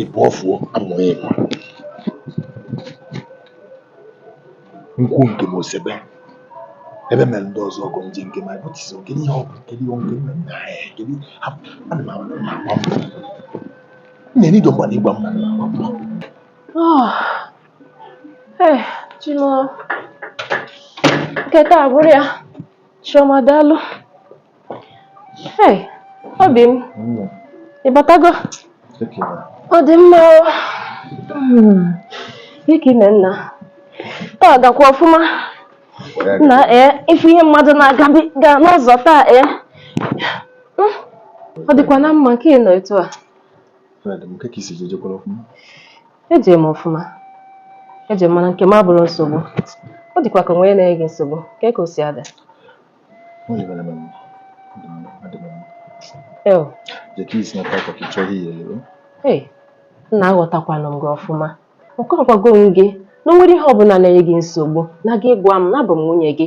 ịbụ ọfụọ amụghị ịkwa nkwụ nke m osebe ebe mere ndị ọzọ ọgụ nje nke ma bụtisi nke ihe ọgụ nke ihe nke nna nna anyị kedu ana m agba mbọ na-enye ịdọ mgba na ịgba mma na agba mbọ Eh, Chinua. Nke taa bụrụ ya. Chioma daalụ. Hey, obi m. Ị batago? Ọ dị mma o. Ike ime nna. Taa gakwa ọfụma. Nna ee, ị fụ ihe mmadụ na-agabiga n'ụzọ taa ee. Hmm, Ọ dịkwa na mma nke ị nọ etu a. Fred, m kee ka i si je, i jekwara ọfụma. Ejere m ọfụma. Ejere m mana nke m abụrụ nsogbu. Ọ dịkwa ka o nwe ihe na-enye gị nsogbu. Kee ka o si ada? Eo. Hey, nna aghọtakwanụ m gị ọfụma. Ọkwa agwago m gị na o nwere ihe ọbụla na-enye gị nsogbu na gị gwa m na abụ m nwunye gị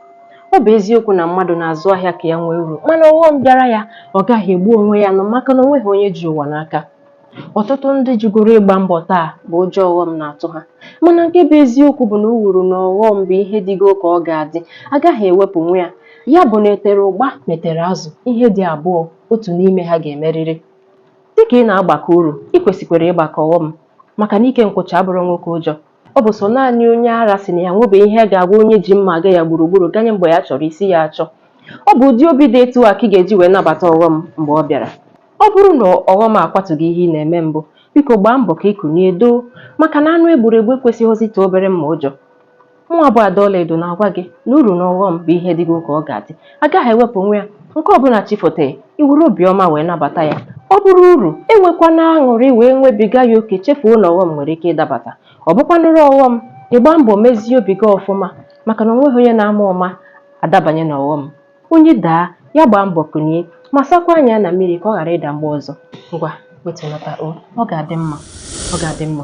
Ọ bụ eziokwu na mmadụ na-azụ ahịa ka ya nwee uru mana ọghọm bịara ya ọ gaghị egbu onwe ya nụ maka na o nweghị onye ji ụwa n'aka. Ọtụtụ ndị jụgoro ịgba mbọ taa bụ ụjọ ọghọm na-atụ ha mana nke bụ eziokwu bụ na uru na ọghọm bụ ihe dịgo ka ọ ga-adị a gaghị ewepụnwu ya. Ya bụ na e tere ụgba ma e tere azụ ihe dị abụọ otu n'ime ha ga-emerịrị. Dịka ị na-agbakọ uru, i kwesịkwara ịgbakọ ọghọm maka na ike nkwụcha abụrụ nwoke ụjọ. Ọ bụ sọ naanị onye ara sị na ya enwebeghị ihe ga-agwa onye ji mma aga ya gburugburu ganye mgbe ya chọrọ isi ya achọ. Ọ bụ ụdị obi dị etu a ka ị ga-eji wee nabata ọghọm mgbe ọ bịara. Ọ bụrụ na ọghọm akwatugo ihe ị na-eme mbụ, biko gbaa mbọ ka i kunie doo maka na anụ e gburu egbu ekwesịghịzi ịtụ obere mma ụjọ. Mụnwa bụ Ada Ọlaedo na-agwa gị na uru na ọghọm bụ ihe dịgo ka ọ ga-adị. a gaghị ewepụnwu ya nke ọbụla chi fota ya i were obiọma wee nabata ya ọ bụrụ uru enwekwana aṅụrị wee nwebiga ya oke chefuo na ọghọm nwere ike ịdabata ọ bụkwanụrụ ọghọm ị gbaa mbọ mezie obi gị ọfụma maka na o nweghị onye na-ama ụma adabanye n'ọghọm onye daa ya gbaa mbọ kunie ma sakwaa anya ya na mmiri ka ọ ghara ịda mgbe ọzọ ngwa wetunata o ọ ga-adị mma ọ ga-adị mma